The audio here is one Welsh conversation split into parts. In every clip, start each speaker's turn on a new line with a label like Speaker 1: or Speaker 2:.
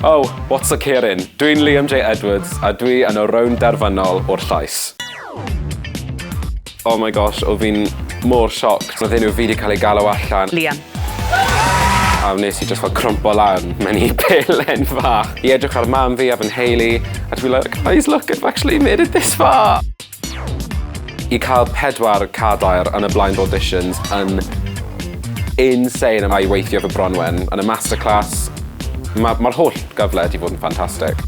Speaker 1: Oh, what's a Kieran? Dwi'n Liam J Edwards a dwi yn y rownd derfynol o'r llais. Oh my gosh, o fi'n mor shocked. Oedd enw fi wedi cael ei galw allan. Liam. A wnes i just fel crwmpo lan mewn i pelen fach. I edrych ar mam fi a fy nheulu, a dwi like, guys, look, I've actually made it this far! I cael pedwar cadair yn y blind auditions yn insane a i weithio efo Bronwen yn y masterclass, ma' ma'r holl gyfle 'di bod yn ffantastig.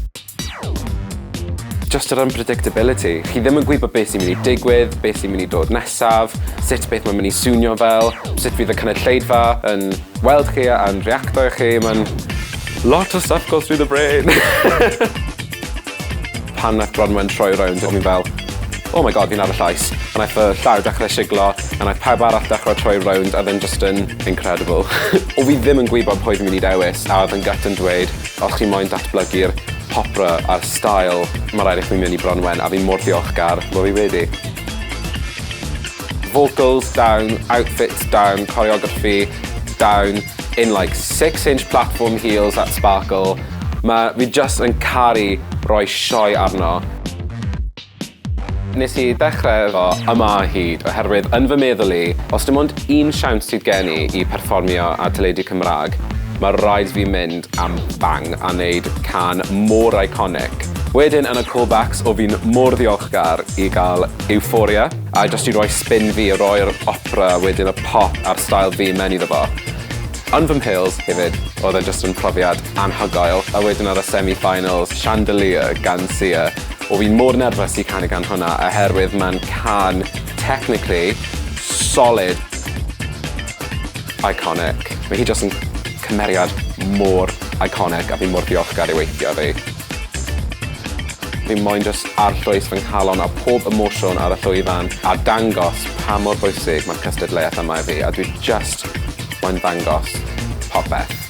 Speaker 1: Jyst yr unpredictability. Chi ddim yn gwybod beth sy'n mynd i digwydd, beth sy'n mynd i dod nesaf, sut beth mae'n mynd i swnio fel, sut fydd y cynulleidfa yn weld chi a'n reactio i chi, ma'n lot o stuff goes through the brain. Pan nath Bronwen troi rownd o'n i fel oh my God fi'n ar y llais. A naeth fy llaw dechre siglo a naeth pawb arall dechre troi rownd a odd e'n jyst yn incredible. O' fi ddim yn gwybod pwy fi myn' i dewis a odd yn gut yn dweud os chi moyn datblygu'r popra a'r style ma' raid i chwi myn' i Bronwen a fi mor ddiolchgar bo' fi wedi. Vocals down, outfits down, choreography down in like six inch platform heels that sparkle. Ma' fi jyst yn caru roi sioe arno. Nes i ddechre efo yma o hyd oherwydd yn fy meddwl i, os dim ond un siawns sydd gen i i perfformio ar teledu Cymraeg, ma' raid fi mynd am bang a neud cân mor iconic. Wedyn yn y callbacks o fi'n mor ddiolchgar i ga'l Euphoria, A jyst i roi spin fi a roi'r opera wedyn y pop a'r style fi mewn iddo fo. Yn fy mhils hefyd odd e jyst yn profiad anhygoel a wedyn ar y semi finals Chandelier gan Sia o' fi mor nerfus i canu gan hwnna oherwydd ma'n cân technically solid iconic. Ma' hi jyst yn cymeriad mor iconic a fi mor ddiolchgar i weithio 'da 'i. Fi moyn jyst arllwys fy nghalon a pob emosiwn ar y llwyfan a dangos pa mor bwysig mae'r cystadleuaeth yma i fi a dwi jyst moyn ddangos popeth.